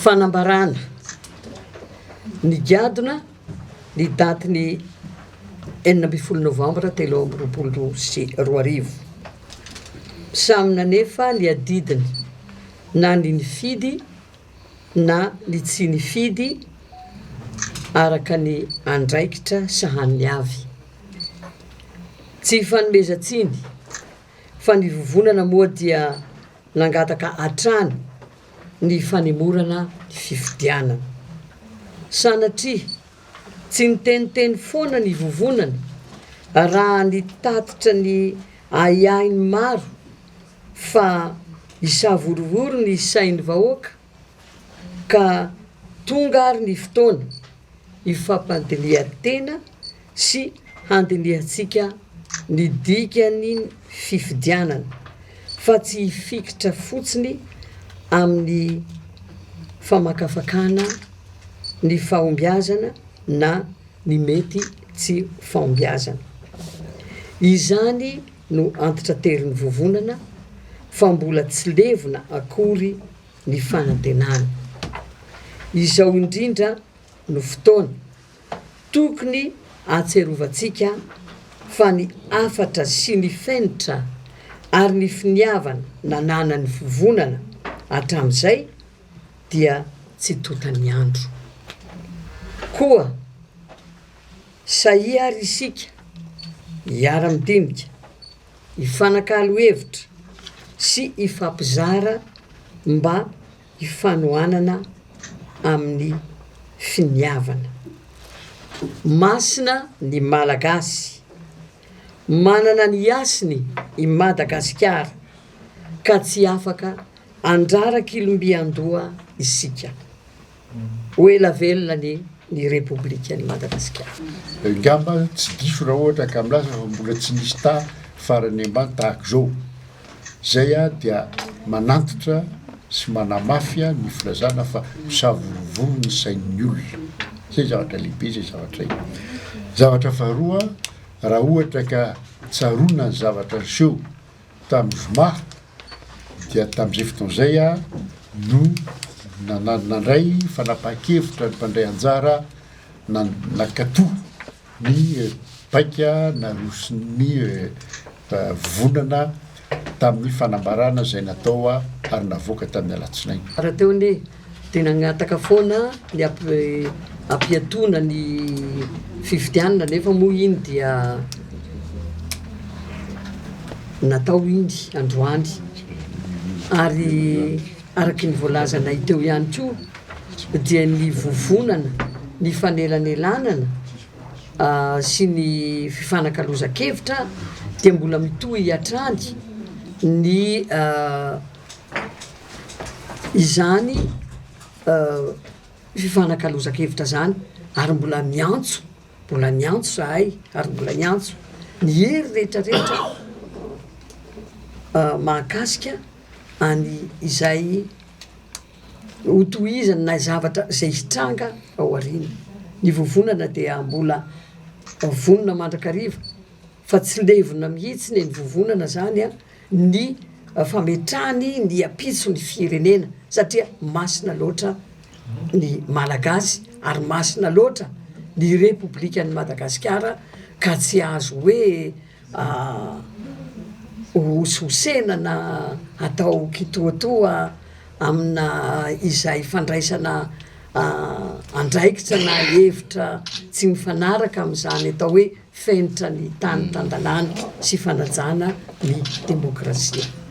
Fanambarana, Nigadona ny daty ny enina ambin'ny folo novambra telo amby roapolo sy roa arivo. Samy nanefa ny adidiny na ny nifidy na ny tsy nifidy araka ny andraikitra sahaniny avy. Tsy ifanomezan-tsiny. fa ny vovonana moa dia nangataka hatrany ny fanemorana ny fifidianana. Sanatria, tsy niteniteny foana ny vovonana raha nitatitra ny ahiahiny maro fa hisavorovoro ny sain'ny vahoaka ka tonga ary ny fotoana hifampandinihan-tena sy handinihantsika ny dikan'ny fifidianana fa tsy hifikitra fotsiny amin'ny famakafakana ny fahombiazana na ny mety tsy fahombiazana. Izany no antitranterin'ny vovonana fa mbola tsy levona akory ny fanantenana. Izao indrindra no fotoana Tokony ahatsiarovantsika fa ny hafatra sy ny fenitra ary ny finiavana nananan'ny Vovonana hatramin'izay dia tsy tontan'ny andro. Koa sahia àry isika hiara-midinika, hifanakalo hevitra sy hifampizara mba. ifanohanana amin'ny finiavana. Masina ny Malagasy. Manana ny hasiny i Madagasikara ka tsy afaka handrara kilombian-doha isika. Ho ela velona ny ny Repoblikan'i Madagasikara. Angamba tsy diso raha ohatra ka milaza fa mbola tsy nisy taha farany ambany tahaka izao. Izay aho dia manantitra sy manamafy ny filazana fa misavorovoro ny sain'ny olona. Izay zavatra lehibe izay zavatra izay. Zavatra faharoa, raha ohatra ka tsaroana ny zavatra niseho tamin'ny zoma dia tamin'izay fotoana izay aho no nandray fanapahan-kevitra ny mpandray anjara nankato. Ny baika naroson'ny vondrona tamin'ny fanambarana izay natao ary navoaka tamin'ny alatsinainy. Rahateo anie dia nangataka foana ny hampiatoana ny fifidianana nefa moa iny dia natao iny androany ary. Araka ny voalazanay teo ihany koa dia ny vovonana, ny fanelanelanana sy ny fifanakalozan-kevitra dia mbola mitohy hatrany ny izany fifanakalozan-kevitra izany ary mbola miantso mbola miantso izahay ary mbola hiantso ny hery rehetra rehetra mahakasika any izay hotohizany na zavatra izay hitranga ao aoriana, ny vovonana dia mbola vonona mandrakariva fa tsy levona mihitsy ny vovonana zany an, ny fametrahany ny ampitso ny firenena satria masina loatra ny malagasy ary masina loatra ny repoblikan'i Madagasikara ka tsy azo hoe hosihosena na hatao kitoatoa amina izay fandraisana andraikitra na hevitra tsy mifanaraka amin'izany atao hoe fenitra ny tany tan-dalàna sy fanajana ny demokrasia.